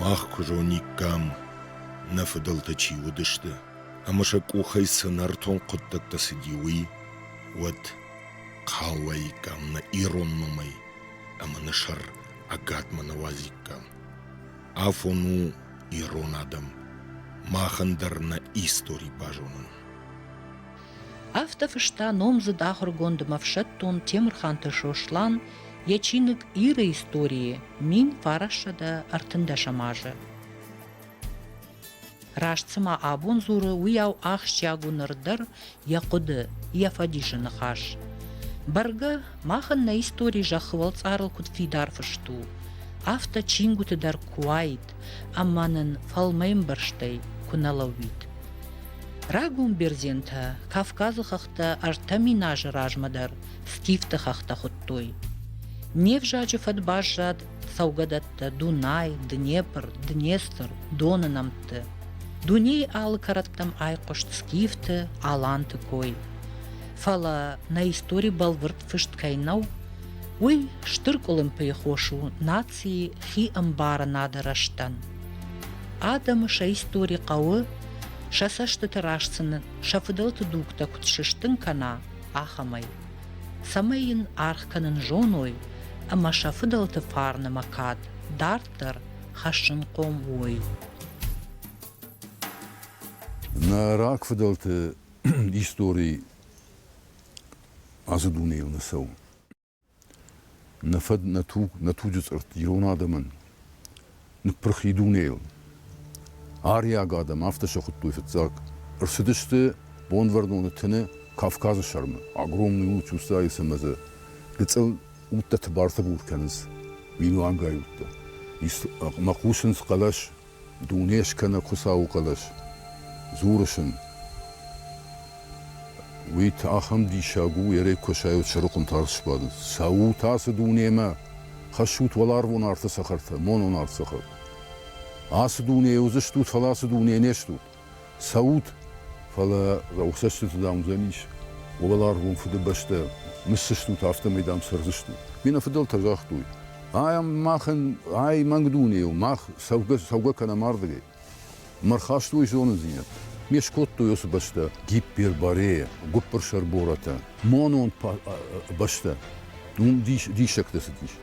Мах куы зониккам, нӕ фыдӕлтӕ чи уыдысты ӕмӕ сӕ къухӕй цы нӕртон хъуыддӕгтӕ цыди, уый, уӕд хъалуаиккам нӕ ирон номӕй ӕмӕ нӕ сӕр ӕгадмӕ нӕ уадзиккам. Афон у ирон адӕм махӕн дӕр нӕ истори базонын. Афтӕ фыста номдзыд ахуыргонд ӕмӕ ӕфсӕддон Темырханты Сослан йӕ чиныг Иры истории мин фарассӕдӕ ӕртындӕсӕм азы. Раст цыма абон дзуры, уыйау ахсджиаг у ныр дӕр йӕ хъуыды, йӕ фӕдисы ныхас. Бӕргӕ, мах нӕ истори зӕххы уӕлцъарыл куыд фидар фыст у, афтӕ чингуыты дӕр куы уаид, Ӕма нин фӕлмӕмбӕрзтӕй ку нӕ лӕууид. Рагон бердзентӕ Кавкази хӕхтӕ ӕртӕ мин ази размӕ дӕр скифти хӕхтӕ худтой. Не взаджи фӕд баззад цӕугӕдӕттӕ Дунай, Днепр, Днестр, Доны нӕмтти. Дуней алы кӕрӕттӕм айхъуыст скифти, аланти кой. Фӕлӕ нӕ истори бӕлвырд фыст кӕй нӕу, уый стыр къуылымпыйы хос у национ информаци хиӕмбарынады рӕзтӕн. Адӕмы сӕ истори хъӕуы, сӕ цӕстыты раст сын сӕ фыдӕлты дугтӕ куыд сыстын кӕна, ахӕмӕй. Цӕмӕй йын аргъ кӕнын зоной ӕмӕ сӕ фыдӕлты фарнымӕ кад дарддӕр хӕссынхъом уой. Нӕ рагфыдӕлты истори ацы дунейыл нӕ цӕуы. Нӕ фӕд, нӕ туг, нӕ туджы цъыртт ирон адӕмӕн ныппырх и дунейыл. Ариаг адӕм афтӕ сӕ хуыдтой фыццаг. Ӕрцыдысты Бонвӕрноны тыны Кавказы сӕрмӕ. Огромный луч устӕйы цымӕдзы. Гыцъыл удтӕ тыбар-тыбур кӕнынц. Минуангай удтӕ. Мӕ хъусынц хъӕлӕс Дуне скӕнӕг Хуыцауы хъӕлӕс, дзурыс ын. Уый ахӕм диссаг у, Ерей Косӕйыл чырыхъуын тарст сбадын. Цӕут ацы дунемӕ, хӕссут уӕларвон арты цӕхӕртӕ, монон арт цӕхӕр. Ацы дуне уыдзыстут, фӕлӕ ацы дуне не стут. цӕут, фӕлӕ цӕстыты, дам, уыдзӕн ис уӕларвон Фыдыбӕстӕ, ныссыстут, афтӕмӕй, дам, цӕрдзыстут. Ме нӕфыдӕлтӕ загътой, ай мах, ай мӕнг дуне у, мах цӕугӕ, цӕугӕ кӕнӕм ардыгӕй. Мӕ рхастой зонындзинӕдтӕ. Ме скодтой уыцы бӕстӕ, Гипперборея, гуыппырсӕр борӕтӕ, монон бӕстӕ. Уым диссӕгтӕ цыдис.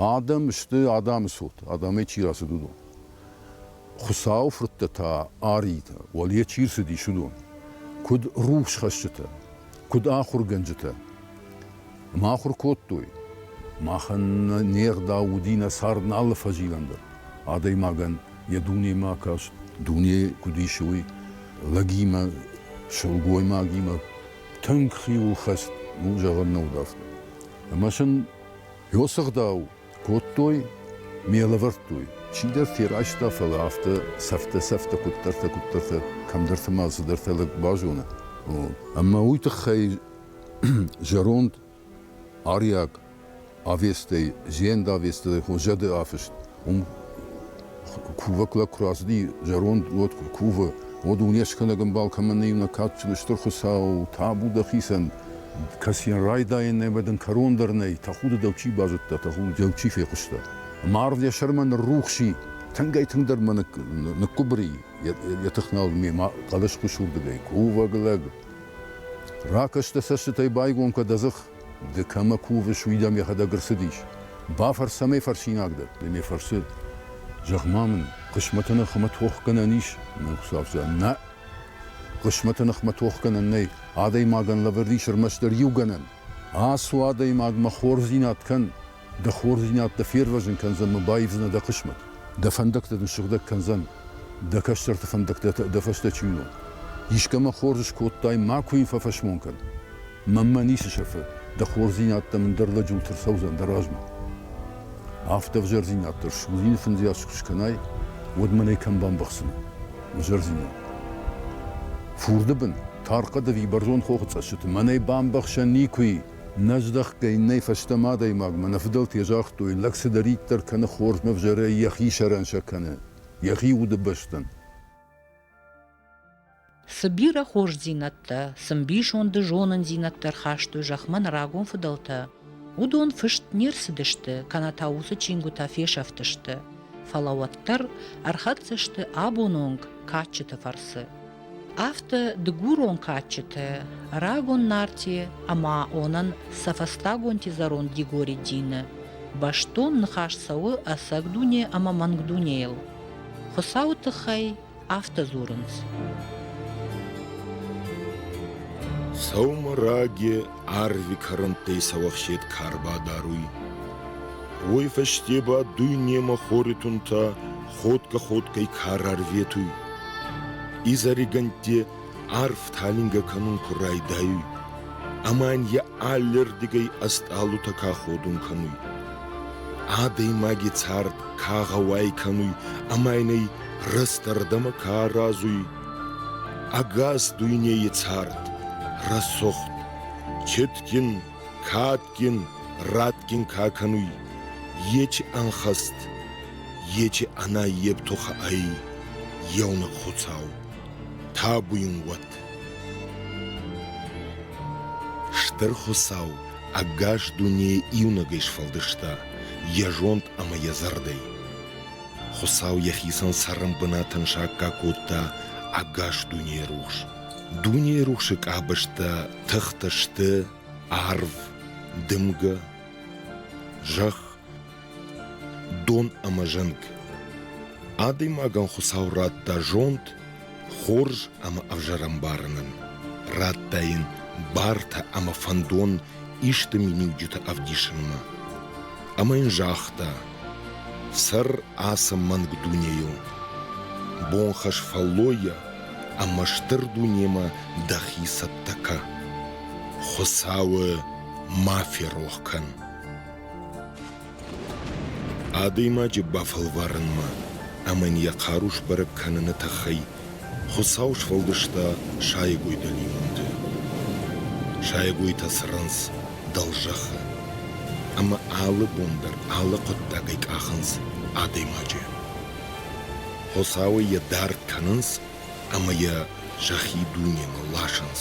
Адӕм сты адӕмы цот, адӕмӕй чи рацыд, уыдон. Хуыцауы фырттӕ та, аритӕ, уӕле чи рцыдис, уыдон. Куыд рухсхӕсджытӕ, куыд ахуыргӕнджытӕ. Ма ахуыр кодтой. Махӕн не гъдау уыди нӕ цард алы фӕзилӕн дӕр. Адӕймагӕн йӕ дунемӕ каст, дуне куыд ис, уый, лӕгимӕ, сылгоймагимӕ тынг хиуыл хӕст, ну, зӕгъӕн нӕ уыд афтӕ. Ӕмӕ сын Йосы ӕгъдау кодтой, ме лӕвӕрдтой, чидӕр ферӕзта, фӕлӕ афтӕ сӕфтӕ-сӕфтӕ куыддӕртӕ-куыддӕртӕ кӕмдӕрты ма цыдӕртӕ лӕг базоны. Ӕмӕ уый тыххӕй зӕронд ариаг авестӕй, зенд авесты хо зӕды афыст уым кувӕг лӕг куы рацыди зӕронд уӕд куы кувы, уӕд уынӕсгӕнӕг ӕмбал кӕмӕн нӕй иунӕг кадджын стыр Хуыцау, табу дӕхицӕн, кӕцыйӕн райдайӕн нӕй, бадын кӕрон дӕр нӕй, тӕхуды дӕу чи базыдта, тӕхуды дӕу чи фехъуыста. Ӕмӕ арв йӕ сӕрмӕ ныррухс и, тынгӕй-тынгдӕр мӕ ныккуыбыр и йӕ тыхнал мемӕ хъӕлӕсхуыз уырдыгӕй кувӕг лӕг. Ракӕс дӕ цӕстытӕй байгом кӕ дӕ дзых. Ды кӕмӕ кувыс, уый дӕм йӕхӕдӕг ӕрцыдис? Бафӕрс ӕмӕ фӕрсинаг дӕ, ды мӕ фӕрсы. Зӕгъ-ма мын, хъысмӕты ныхмӕ тохгӕнӕн ис? Нӕ, Хуыцау зӕгъы, нӕ! Хъысмӕты ныхмӕ тохгӕнӕн нӕй, адӕймагӕн лӕвӕрд ис ӕрмӕстдӕр иу гӕнӕн. Ацу, адӕймаг, мӕ хорздзинад кӕн, Дӕ хорздзинӕдтӕ фервӕзын кӕндзӕн мӕ баивдзынӕ дӕ хъысмӕт. Дӕ фӕндӕгтӕ дын сыгъдӕг кӕндзӕн, дӕ кӕстӕрты фӕндӕгтӕ дӕ фӕстӕ чи уынон. Искӕмӕ хорз скодтай, макуы йын фӕфӕсмон кӕн. Мӕнмӕ ницы сӕфы, дӕ хорздзинӕдтӕ мын дӕр лӕджылты рцӕудзӕн дӕ размӕ. Афтӕ ӕвзӕрдзинад дӕр суыдзӕни фындзыйас куы скӕнай, уӕд мӕнӕй кӕм бамбӕхсын, ӕвзӕрдзинад. Фурды бын, тархъӕд ӕви бӕрзонд хохы цӕссыты мӕнӕй бамбӕхсӕн никуы и. Нӕ здӕхтӕй нӕй фӕстӕмӕ адӕймагмӕ нӕ фыдӕлтӕ загътой, лӕг цыдӕриддӕр кӕны хорзмӕ ӕвзӕрӕй йӕхи сӕрӕн сӕ кӕны, йӕхи удыбӕстӕн. Цы бирӕ хорздзинӕдтӕ, цы мбисонды зонындзинӕдтӕ рхастой зӕхмӕ нӕ рагон фыдӕлтӕ, уыдон фыст не рцыдысты, кӕнӕ та уыцы чингуытӕ фесӕфтысты, фӕлӕ уӕддӕр ӕрхӕццӕ сты абон онг кадджыты фӕрцы. Афтӕ дыгурон кадджытӕ рагон Нарти ӕма онӕн сӕ фӕстагонти зӕронд Дигори дины бӕстон ныхас цӕуы ӕцӕг дуне ӕмӕ мӕнг дунейыл. Хуыцауы тыххӕй афтӕ дзурынц. Сӕумӕраге Арви кӕрӕнттӕй сауӕхсет ка рбадаруй, уой фӕсте ба дуйнемӕ хори тунтӕ ходгӕ-ходгӕй ка рарветуй. Изӕригӕнтти арв талингӕ кӕнун ку райдайуй, ӕма ин е аллердигӕй ӕстъалутӕ ка ходун кӕнуй. Адӕймаги цард ка гъӕуай кӕнуй ӕма ин ӕй рӕстӕрдӕмӕ ка аразуй, Ӕгас дуйнейы цард рӕсугъд, четгин, кадгин, радгин ка кӕнуй, ечи ӕнхӕст, ечи ӕнаййев тухӕ ӕй еунӕг Хуцау, табуин уӕд. Стӕр Хуцау ӕгас дунейӕ иунӕгӕй сфӕлдиста йӕ зонд ӕмӕ йӕ зӕрдӕй. Хуыцау йӕхицӕн цӕрӕн бынатӕн сакка кодта ӕгас дунейы рухс. Дунейы рухсы къабӕзтӕ тыхтӕ сты арв, дымгӕ, зӕхх, дон ӕмӕ зӕнг. Адӕймагӕн Хуыцау радта зонд Хорз ӕмӕ ӕвзӕрӕмбары нын радта йын бартӕ ӕмӕ фӕндон исты миниуджыты ӕвдисынмӕ. Ӕмӕ йын загъта: «Цӕр ацы мӕнг дунейыл, бонхӕс фӕллойӕ ӕмӕ стыр дунемӕ дӕхи цӕттӕ кӕ. Хуыцауы ма ферох кӕн!» Адӕймаджы бафӕлварынмӕ ӕмӕ йын йӕ хъару сбӕрӕг кӕныны тыххӕй Хуыцау сфӕлдыста сайӕгой дӕлимонты. Сайӕгойтӕ цӕрынц дӕлзӕххы, ӕмӕ алы бон дӕр алы хъуыддагӕй къахынц адӕймаджы. Хуыцауӕй йӕ дард кӕнынц ӕмӕ йӕ сӕхи дунемӕ ласынц.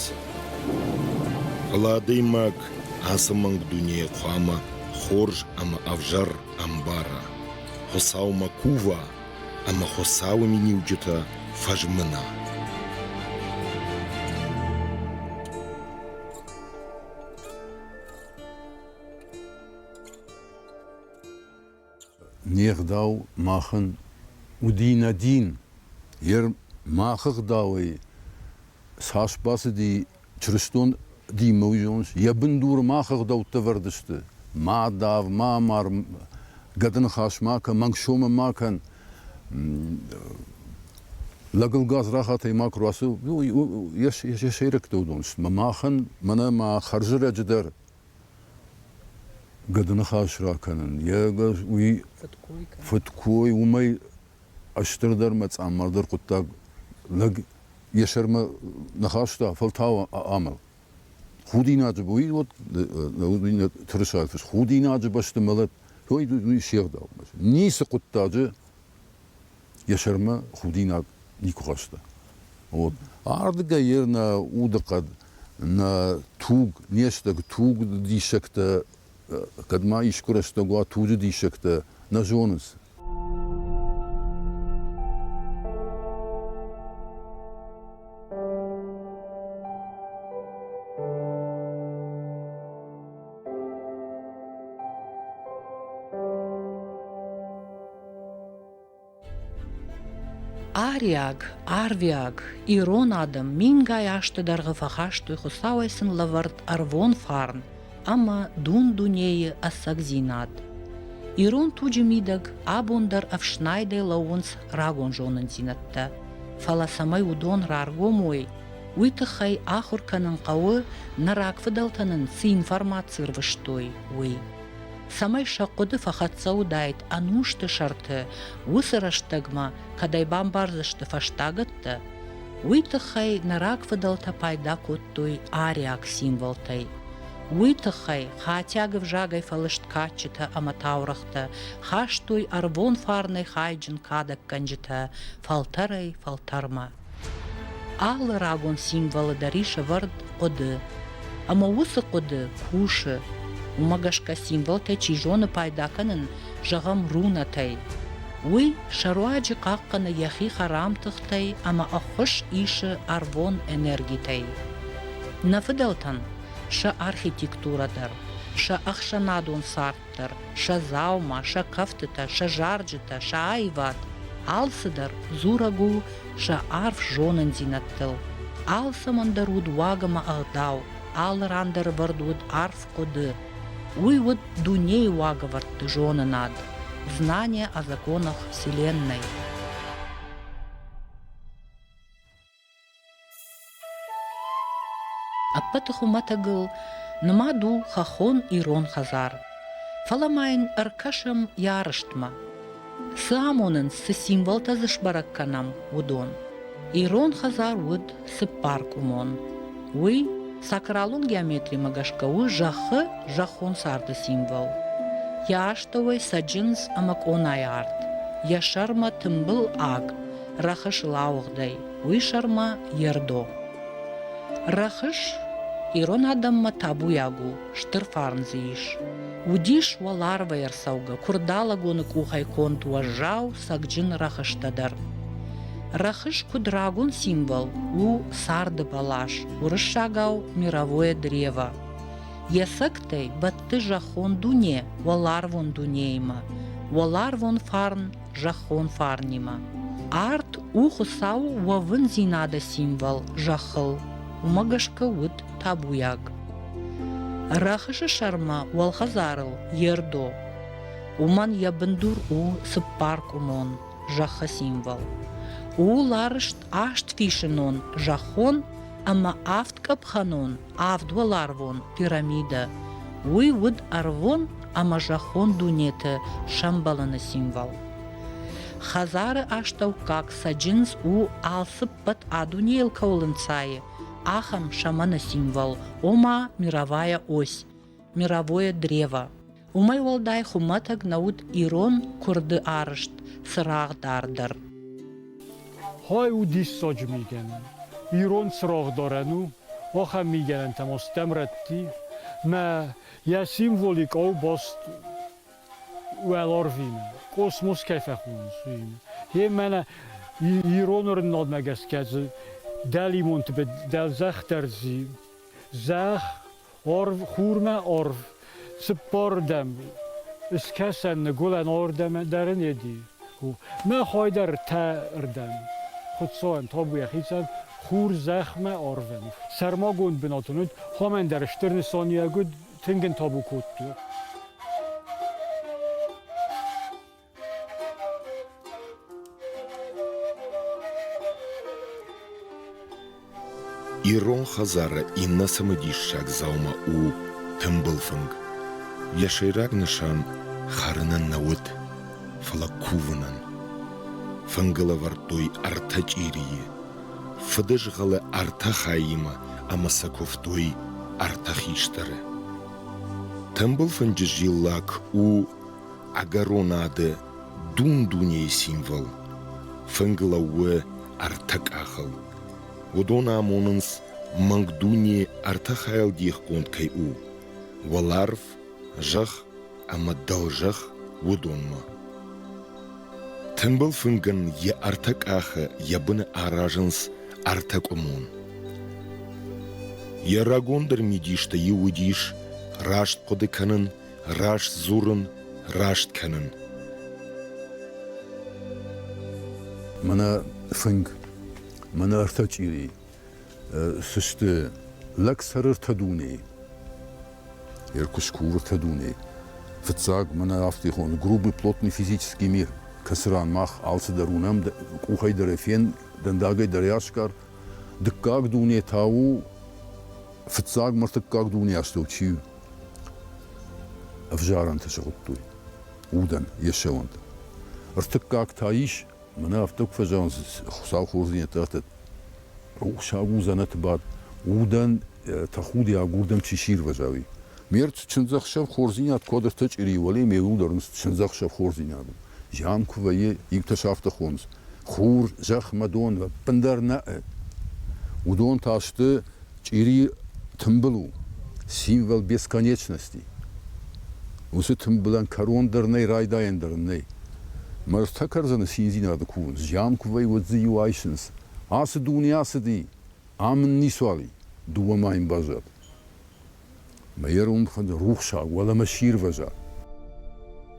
Фӕлӕ адӕймаг ацы мӕнг дунейы хъуамӕ хорз ӕмӕ ӕвзӕр ӕмбара, Хуыцаумӕ кува ӕмӕ Хуыцауы миниуджытӕ фӕзмына. Не гъдау махӕн уыди нӕ дин. Гъер махы гъдауӕй цас бацыди чырыстон динмӕ, уый зоныс? Йӕ бындуры мах ӕгъдӕуттӕ ӕвӕрд сты. Ма дав, ма амар, гӕдыныхас ма кӕн, мӕнг сомӕ ма кӕн, лӕгыл гадзрахатӕй ма куы рацу, йӕ сӕйрӕгтӕ уыдон сты. Махӕн, мӕнӕ мӕ хӕрзӕрӕджы дӕр Гыдыныхас ракӕнын, йе гас уый фыдкой, уымӕй стырдӕр мӕ цъаммардӕр хъуыддаг лӕг йӕ сӕрмӕ ныхаста фӕлтау амал. Худинаджы уый вот тырысайфыс худинаджы бӕсты мӕлӕт, той уый се гъдау. Ницы хъуыддаджы йӕ сӕрмӕ худинаг никуы хӕсты. Вот. Ардыгӕй йер нӕ удыхъӕд, нӕ туг, не стӕг туг диссӕгтӕ, кӕд ма искуы рӕстӕг уа туджы диссӕгтӕ, нӕ зонынц. Ариаг, арвиаг, ирон адӕм мингай азты дӕргъы фӕхастой Хуыцауӕй сын лӕвӕрд ӕрвон фарн ӕмӕ дун-дунейы ӕцӕгдзинад. Ирон туджы мидӕг абон дӕр ӕфснайдӕй лӕууынц рагон зонындзинӕдтӕ, фӕлӕ цӕмӕй уыдон раргом уой, Уый тыххӕй ахуыр кӕнын хъӕуы, нӕ рагфыдӕлтӕ нын цы информаци рвыстой, уый. Цӕмӕй сӕ хъуыды фӕхӕццӕ уыдаид ӕнусты сӕрты, уыцы рӕстӕгмӕ кӕдӕй бамбардзысты фӕстагӕттӕ, уый тыххӕй нӕ рагфыдӕлтӕ пайда кодтой ариаг символтӕй. Уый тыххӕй хатиаг ӕвзагӕй фӕлыст кадджытӕ ӕмӕ таурӕгътӕ хастой ӕрвон фарнӕй хайджын кадӕггӕнджытӕ фӕлтӕрӕй-фӕлтӕрмӕ. Алы рагон символы дӕр ис ӕвӕрд хъуыды. Ӕмӕ уыцы хъуыды кусы. Уымӕ гӕсгӕ символтӕй чи зоны пайда кӕнын, зӕгъӕм, рунатӕй. Уый сӕ руаджы хъахъхъӕны йӕхи хӕрам тыхтӕй ӕмӕ ӕххуыс исы ӕрвон энергитӕй. Нӕ фыдӕлтӕн сӕ архитектурӕ дӕр, сӕ ӕхсӕнадон цард дарддӕр сӕ дзаума, сӕ кӕфтытӕ, сӕ зарджытӕ, сӕ аивад, алцыдӕр дзурӕг у сӕ арф зонындзинӕдтыл. Алцӕмӕн дӕр уыд уаг ӕмӕ ӕгъдау, алы ран дӕр ӕвӕрд уыд арф хъуыды. Уый уыд дунейы уагӕвӕрдты зонынад, знание о законах Вселенной. Ӕппӕты хуымӕтӕгыл нымад у хӕххон ирон хӕдзар. Фӕлӕ ма йын ӕркӕсӕм йӕ арӕзтмӕ. Цы амонынц, цы символтӕ дзы сбӕрӕг кӕнӕм, уыдон. Ирон хӕдзар уыд цыппаркъуымон. Уый сакралон геометримӕ гӕсгӕ у зӕххы зӕххон царды символ. Йӕ астӕуӕй цӕджындз ӕмӕ къонайы арт, йӕ сӕрмӕ тымбыл аг, Рӕхыс лауыгъдӕй, уый сӕрмӕ Ердо. Рӕхыс ирон адӕммӕ табуйаг у, стыр фарн дзы ис. Уыдис уӕ ларвӕй ӕрцӕугӕ, куырдалӕгоны къухӕй конд уӕззау, сӕгджын рӕхыстӕ дӕр. Рӕхыс куыд рагон символ у царды бӕлас, уырыссагау мировое древо. Йӕ сӕгтӕй бӕтты зӕххон дуне уӕларвон дунеимӕ, уӕларвон фарн зӕххон фарнимӕ. Арт у Хуыцауы уӕвындзинады символ зӕххыл. Уымӕ гӕсгӕ уыд табуйаг. Рӕхысы сӕрмӕ уӕлхӕдзарыл ердо. Уымӕн йӕ бындур у цыппаркъуымон зӕххы символ. У ларыст аст фисынон зӕххон ӕмӕ авд къӕпхӕнон авдуӕларвон пирамидӕ. Уый уыд ӕрвон ӕмӕ зӕххон дунеты сӕмбӕлыны символ. Хӕдзары астӕуккаг цӕджындз у алцыппӕт адунейыл кӕуыл ӕнцайы, ахӕм сӕмӕны символ, ома мировая ось. мировое древо. Уымӕй уӕлдай хуымӕтӕг нӕ уыд ирон куырды арызт цырагъдардӕр. Хай у диссаджы мигӕнӕн. Ирон цырагъдарӕн у, ахӕм мигӕнӕнтӕм астӕм рӕтти, мӕ йӕ символик баст уӕларвимӕ, космос кӕй фӕхонынц, уыимӕ. Е мӕнӕ ироны рыннадмӕ гӕсгӕ дзы дӕлимонты дӕлзӕх дӕр зӕхх Орв, хурмӕ орв, цыппордӕм Ыскӕсӕн ныгуылӕн ордӕм дӕр ын еди. Мӕ хойдӕр тӕ рдӕм, Хуцауӕн тобу йӕхицӕн, Хур зӕхмӕ орвӕн. Сӕрмагонд бынат ын уыд, Хомӕн дӕр стыр нысаниуӕг уыд, Тынг ын тобу кодта. Ирон хӕдзары иннӕ цымыдиссаг дзаума у тымбыл фынг. Йӕ сӕйраг нысан хӕрынӕн нӕ уыд, фӕлӕ кувынӕн. Фынгыл ӕвӕрдтой ӕртӕ чъирийы. Фыдызгъӕлы ӕртӕ хаимӕ ӕмӕ сӕ куывтой ӕртӕ хистӕры. Тымбыл фынджы зиллак у ӕгӕронады дун-дунейы символ, фынг лӕууы ӕртӕ къахыл. Уыдон амонынц, мӕнг дуне ӕртӕ хайыл дихгонд кӕй у: уӕларв, зӕхх ӕмӕ дӕлзӕхх уыдонмӕ. Тымбыл фынгӕн йӕ ӕртӕ къахы йӕ быны аразынц ӕртӕкъуымон. Йӕ рагондӕр мидистӕ иу уыдис раст хъуыды кӕнын Раст дзурын, раст кӕнын. Мӕнӕ фынг, мӕнӕ ӕртӕ чъири, цы сты лӕгсӕрыртӕ дуне, Еркушкурыртӕ дуне. Фыццаг, мӕнӕ афтихон грубый плотный физический мир, кӕцы ран мах алцыдӕр уынӕм, къухӕй дӕр фен, дӕндагӕй дӕр асгар, Дыккаг дуне та у фыццаг мыртыккаг дунеастӕу чи ӕвзарӕнты сыгъуыдтой удӕн йе сӕуӕнты. Ӕртыккаг та ис, мӕнӕ афтӕ куы фӕзӕгъынц Хуыцау хорздзинӕдты ӕртӕ рухсаг у дзӕнӕты бад удӕн тӕхудиаг уырдӕм чи сирвӕза, уый. Ме ртт чындзӕхсӕв хорздзинад куыд ӕртӕ чъири, уӕле ме удӕр ын чындзӕхсӕв хорздзинад у. Зиан куы вӕййы, иутӕ сӕ афтӕ хонынц, Хур зӕхмӕ дон ӕппындӕр нӕ'ы. Уыдон та сты чъирийы тымбыл у, символ бесконечности. Уыцы тымбылӕн кӕрон дӕр нӕй, райдайӕн дӕр нӕй. Мӕрдтӕ кӕрдзыны циндзинады кувынц, зиан куы вӕййы, уӕд дзы-иу айсынц, ацы дуне ацыди, ам ын ницуал и, дыууӕ ма йын баззад. Мӕ ирон фыд рухсаг уӕлӕмӕ сирвӕза.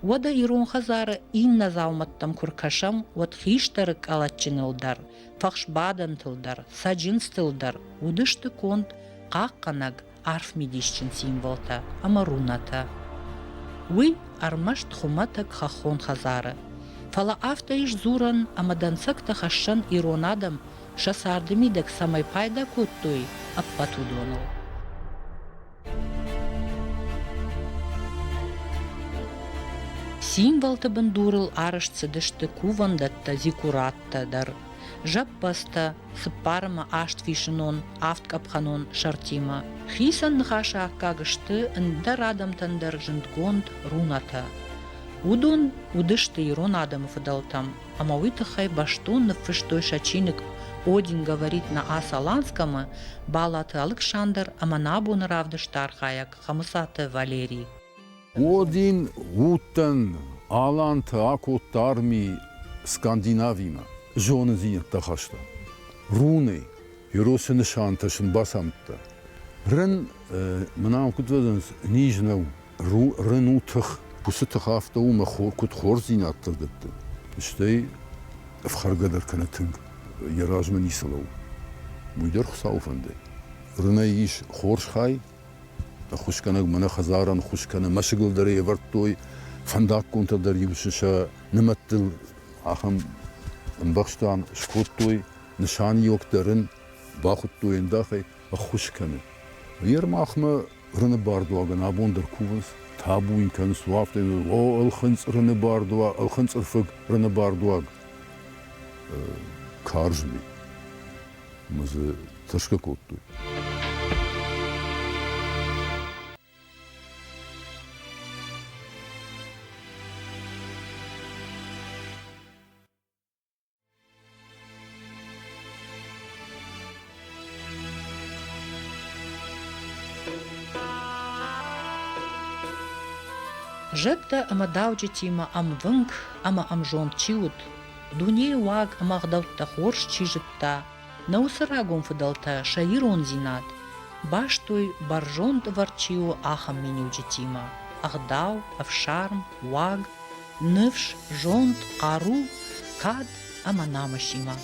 Уӕдӕ ирон хӕдзары иннӕ дзаумӕттӕм куы ркӕсӕм, уӕд хистӕры къӕлӕтджыныл дӕр, фӕхсбадӕнтыл дӕр, цӕджындзтыл дӕр уыдысты конд хъахъхъӕнӕг арфмидисджын символтӕ ӕмӕ рунатӕ. Уый ӕрмӕст хуымӕтӕг хӕххон хӕдзары, фӕлӕ афтӕ ис дзурӕн ӕмӕ дӕнцӕгтӕ хӕссӕн ирон адӕм сӕ царды мидӕг цӕмӕй пайда кодтой, ӕппӕт уыдоныл. Символты бындурыл арӕзт цыдысты кувӕндӕттӕ, зикураттӕ дӕр. Зӕппӕдзтӕ, цыппарымы аст фисынон, авд къӕпхӕнон сӕртимӕ. Хицӕн ныхасы аккаг сты ӕндӕр адӕмтӕн дӕр зындгонд рунатӕ. Уыдон уыдысты ирон адӕмы фыдӕлтӕм. ӕмӕ уый тыххӕй бӕстон ныффыстой сӕ чиныг Один говорит на ас-Аланском-ы Балаты Алыксандр ӕмӕ нӕ абоны равдысты архайӕг Хӕмыцаты Валерий. Один гъудтӕн Аланты акодта арми Скандинавимӕ. Зонындзинӕдтӕ хаста. Руны Еросы нысантӕ сын бацамыдта. Рын мын ам куыд уыдзӕнис низ нӕу. Рын у тых, уыцы тых афтӕ у, мӕ хор, куыд хорздзинӕдтӕ дӕтты. Стӕй ӕфхӕргӕ дӕр кӕнӕ тынг йӕ размӕ ницы лӕуу. Уый дӕр Хуыцауы фӕндӕй. Рынӕй ис хорз хай, ӕххуысгӕнӕг мӕнӕ хӕдзарӕн хус кӕнӕ мӕсыгыл дӕр ӕвӕрдтой, фӕндаггонтӕ дӕр-иу сӕ нымӕттыл ахӕм ӕмбӕхстӕн скодтой, нысаниуӕг дӕр ын бахуыдтой ӕндахӕй, ӕххуыс кӕны. Ермахмӕ рыны бардуагӕн абон дӕр кувынц, табу йын кӕнынц, у афтӕ, о, ӕлхынцъ рыны бардуаг, ӕлхынцъырфыг рыны бардуаг. Карз ми. Мы дзы тырсгӕ кодтой. Зӕдтӕ ӕмӕ дауджытимӕ ӕмвынг ӕмӕ ӕмзонд чи уыд, дунейы уаг ӕмӕ ӕгъдӕуттӕ хорз чи зыдта, Нӕ уыцы рагон фыдӕлтӕ сӕ ирондзинад бастой бӕрзонд ӕвӕрд чи у, ахӕм миниуджытимӕ: ӕгъдау, ӕфсарм, уаг, ныфс, зонд, хъару, кад ӕмӕ намысимӕ.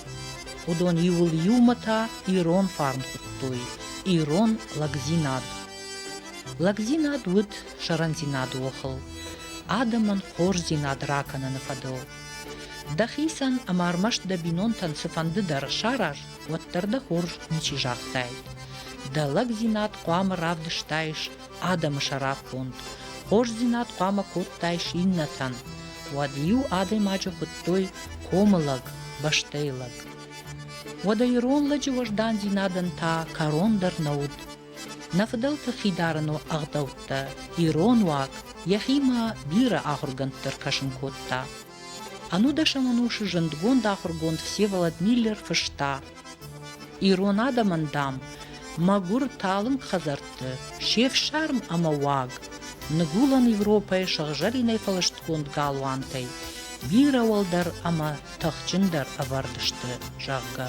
Уыдон иуыл иумӕ та ирон фарн хуыдтой, ирон лӕгдзинад. Лӕгдзинад уыд сӕрӕндзинады охыл, адӕмӕн хорздзинад ракӕныны фӕдыл. Дӕхицӕн ӕмӕ ӕрмӕст дӕ бинонтӕн цыфӕнды дӕр сараз, уӕддӕр дӕ хорз ничи загътаид. Дӕ лӕгдзинад хъуамӕ равдыстаис адӕмы сӕраппонд, хорздзинад хъуамӕ кодтаис иннӕтӕн. Уӕд-иу адӕймаджы хуыдтой комы лӕг, бӕстӕйы лӕг. Уӕдӕ ирон лӕджы уӕздандзинадӕн та кӕрон дӕр нӕ уыд. Нӕ фыдӕлты хидарӕно ӕгъдӕуттӕ ирон уаг йӕхимӕ бирӕ ахуыргӕндты ӕркӕсын кодта. Ӕнудӕсӕм ӕнусы зындгонд ахуыргонд Всеволод Миллер фыста: Ирон адӕмӕн, дам, мӕгуыр талынг хӕдзӕртты се фсарм ӕмӕ уаг, ныгуылӕн Европӕйы сыгъзӕринӕй фӕлыстгонд галуантӕй бирӕ уӕлдӕр ӕмӕ тыхджындӕр ӕвӕрд сты, зӕгъгӕ.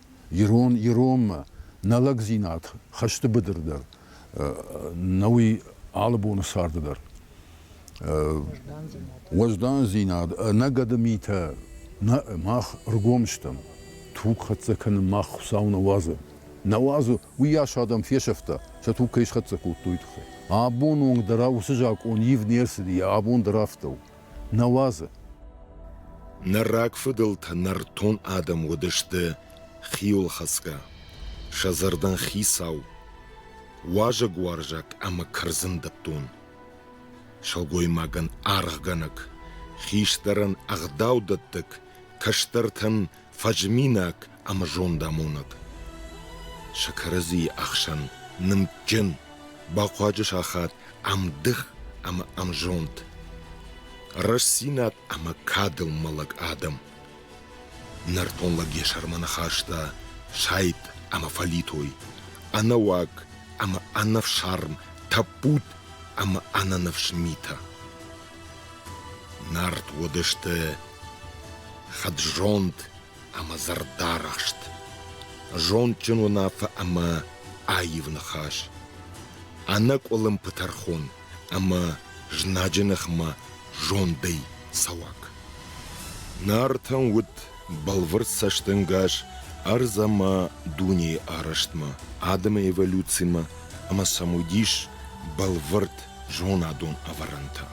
ирон иронмӕ нӕ лӕгдзинад хӕсты быдыр дӕр нӕ уый алы боны царды дӕр. Уӕздандзинад, нӕ гӕды митӕ нӕ мах ргом стӕм. Туг хӕццӕ кӕнын мах Хуыцау нӕ уадзы. Нӕ уадзы, уыйас адӕм фесӕфта, сӕ туг кӕй схӕццӕ кодтой, тыххӕй. Абон онг дӕр уыцы закъон ивд не рцыди, йӕ абон дӕр афтӕ у. нӕ уадзы. Ныр рагфыдӕлтӕ нӕртон адӕм уыдысты хиуылхӕцгӕ, сӕ зӕрдӕн хицау, уазӕгуарзаг ӕмӕ кӕрдзындӕттон. Сылгоймагӕн аргъгӕнӕг, хистӕрӕн ӕгъдаудӕттӕг, кӕстӕртӕн фӕзминаг ӕмӕ зондамонӕг. Сӕ кӕрӕдзийы ӕхсӕн нымдджын, бахъуаджы сахат ӕмдых ӕмӕ ӕмзонд, рӕстдзинад ӕмӕ кадыл мӕлӕг адӕм. Нӕртон лӕг йӕ сӕрмӕ ныхаста сайд ӕмӕ фӕлитой, ӕнӕуаг ӕмӕ ӕнӕфсарм тӕппуд ӕмӕ ӕнӕныфс митӕ. Нард уыдысты хӕд-зонд ӕмӕ зӕрдӕрӕхст, зондджын уынаффӕ ӕмӕ аив ныхас, ӕнӕкъуылымпы тӕрхон ӕмӕ знаджы ныхмӕ зондӕй цӕуӕг. Нартӕн уыд бӕлвырд цӕстӕнгас ӕрдз ӕмӕ дунейы арӕзтмӕ, адӕмы эволюцимӕ ӕмӕ сӕм уыдис бӕлвырд зонадон ӕвӕрӕнтӕ.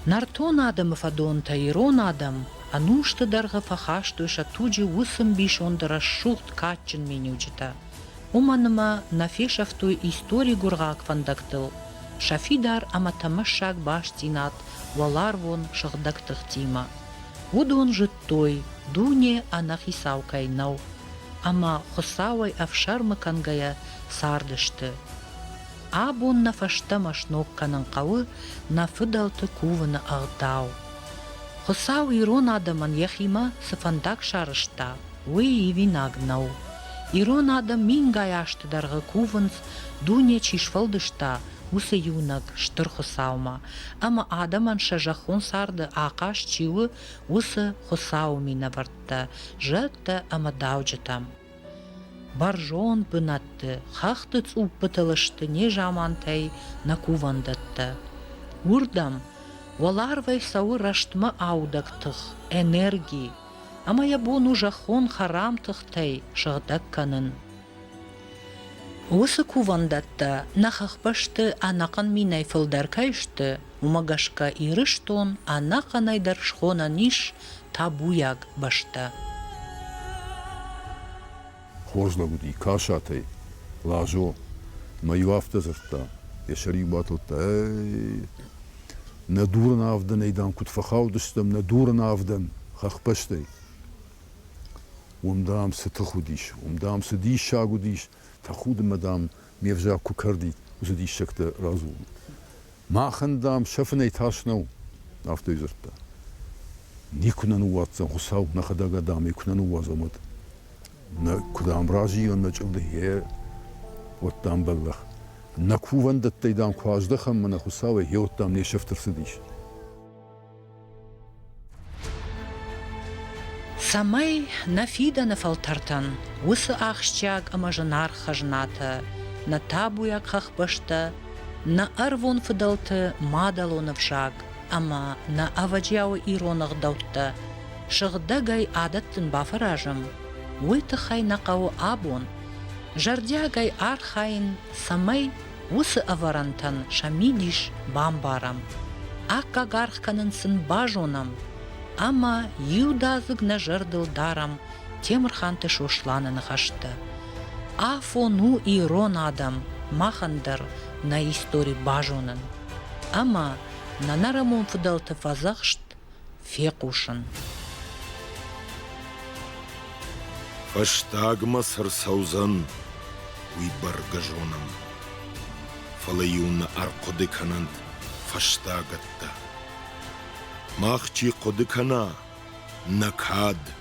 Нӕртон адӕмы фӕдонтӕ ирон адӕм ӕнусты дӕргъы фӕхастой сӕ туджы уыцы мбисонд рӕсугъд кадджын миниуджытӕ, уымӕн ӕмӕ нӕ фесӕфтой истори гуыргъаг фӕндӕгтыл сӕ фидар ӕмӕ тӕмӕссаг бастдзинад уӕларвон сыгъдӕг тыхтимӕ. Уыдон зыдтой, дуне ӕнӕхицау кӕй нӕу, ӕмӕ, Хуыцауӕй ӕфсӕрмы кӕнгӕйӕ, цардысты. Абон нӕ фӕстӕмӕ сног кӕнын хъӕуы нӕ фыдӕлты кувыны ӕгъдау. Хуыцау ирон адӕмӕн йӕхимӕ цы фӕндаг сарӕзта, уый ивинаг нӕу. Ирон адӕм мингай азты дӕргъы кувынц, дуне чи сфӕлдыста, уыцы иунӕг Стыр Хуыцаумӕ, ӕмӕ адӕмӕн сӕ зӕххон царды ахъаз чи у, уыцы Хуыцауы минӕвӕрттӕ, зӕдтӕ ӕмӕ дауджытӕм. Бӕрзонд бынӕтты хӕхты цъуппытыл сты незамантӕй нӕ кувӕндӕттӕ. Уырдӕм уӕларвӕй цӕуы рӕстмӕ аудӕг тых, энерги, ӕмӕ йӕ бон у зӕххон хӕрам тыхтӕй сыгъдӕг кӕнын. Уыцы кувӕндӕттӕ нӕ хӕхбӕсты ӕнӕхъӕн минӕй фылдӕр кӕй сты, уымӕ гӕсгӕ Ирыстон ӕнӕхъӕнӕй дӕр схонӕн ис табуйаг бӕстӕ. Хорз лӕг уыди, Касатӕй, Лазо, мӕ-иу афтӕ дзырдта, йӕ сӕр-иу батылдта, ӕй, нӕ дурын авдӕнӕй, дам, куыд фӕхаудыстӕм нӕ дурын авдӕн хӕхбӕстӕй. Уым, дам, цы тых уыдис, уым, дам, цы диссаг уыдис, тӕхуды мӕ, дам, ме взаг куы кӕрди, уыцы диссӕгтӕ радзурын. Махӕн, дам, сӕ фынӕй тас нӕу, афтӕ дзырдта. Никуы нӕ ныууадздзӕн Хуыцау, нӕхӕдӕг адӕм ӕй куы нӕ ныууадзӕм, уӕд. Нӕ, куыд ӕм разыйӕн нӕ чъылды, гъе, уӕд, дам, бӕллӕх. Нӕ кувӕндӕттӕй, дам, куы аздӕхӕм мӕнӕ Хуыцауӕй, гъеуӕд, дам, не сӕфт ӕрцыдис. Цӕмӕй нӕ фидӕны фӕлтӕртӕн уыцы ахсджиаг ӕмӕ зынаргъ хӕзнатӕ, нӕ табуйаг хӕхбӕстӕ, нӕ ӕрвон фыдӕлты мадӕлон ӕвзаг ӕмӕ нӕ ӕвӕджиауы ирон ӕгъдӕуттӕ сыгъдӕгӕй адӕттын бафӕразӕм, уый тыххӕй нӕ хъӕуы абон зӕрдиагӕй архайын, цӕмӕй Уыцы ӕвӕрӕнтӕн сӕ мидис бамбарӕм, аккаг аргъ кӕнын сын базонӕм ӕмӕ иудадзыг нӕ зӕрдыл дарӕм Темырханты Сосланы ныхӕстӕ, Афон у ирон адӕм махӕн дӕр нӕ истори базонын ӕмӕ нӕ нӕрӕмон фыдӕлты фӕдзӕхст фехъусын. Фӕстагмӕ цы рцӕудзӕн, уый бӕргӕ зонӕм. Фӕлӕ-иу нӕ ӕрхъуыды кӕнӕнт фӕстагӕттӕ. Мах чи хъуыды кӕна, нӕ кад